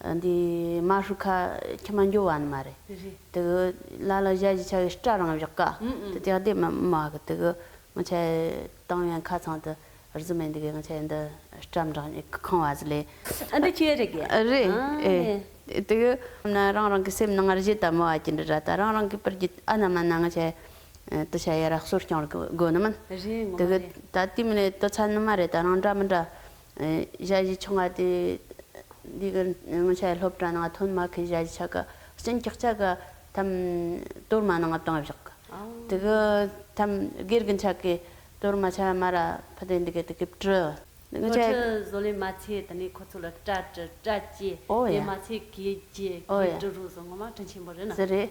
འདི་མ་ཧྲུག་ཁ་ཁྱི་མ་འགྱོ་བ་ནི་མ་རེད་དུ་གུ་ལ་ལ་བཞའ་ཞིག་ཆ་གི་སྐྲ་རང་བཞག་ག་དུ་དེ་བདེ་མི་མ་གི་དུ་གུ་ང་ཆ་ཡི་ཏང་ཡོན་ཁ་ཚང་དུ་རྫུ་མེད་འདུག་གི་ང་ཆ་ཡི་འདི་སྐྲ་མི་འགྲང་ཉིད་ཁང་བ་ཟི་ལེ། ཨ་འདི་ཁྱེད་རེད་གི། རེད་ཨེ་དུ་གུ་ན་རང་རང་གི་སེམས་ནང་ངར་བཞེད་ད་མོ་བ་ཀྱི་འདི་ར་ད་རང་རང་གི་པར་གྱི་ཨ་ན་མ་ན་ང་ཆ་ཡི་དུ་ཆ་ཡི་ར་གསོ་སྐྱོང་རི་གི་དགོ་ནི་མིན་དུ་གུ་ད་དུས་མི་ནས་དུ་ཚ་ནི་མ་རེད་ད་རང་འདྲ་མི་འདྲ། གཞལ་བྱའི་ཆོ་ག་དེ། འདི་གར་སྔོན་ཆད་སློབ་གྲྭ་ནང་ཐོན་མ་མཁན་གཞལ་བྱའི་ཆ་ག་སྤྱིན་སྐྱག་ཆ་ག་ཐམ་གཏོར་མ་ནང་དང་བཞག་གི། དེ་གི་ཐམ་སྒེར་གྱི་ཆ་གས་གཏོར་མ་ཆ་མ་ར་ཕུ་དེ་འདི་གས་དེ་གས་བཀྲུ། ནོར་འཁྲུལ་བཟོ་ལས་མ་བྱས་དེ་ནས་ཁོ་ཚོ་ལ་སྐྲ་བཀྲུ་སྐྲ་བཅད། ལས་མ་བྱས་གོས་བཅད་གོས་བཀྲུ་རུ་སོང་ངོ་མ་བཀྲུ་ཆེན་པོ་རེད་ན། ཟེར་རེད།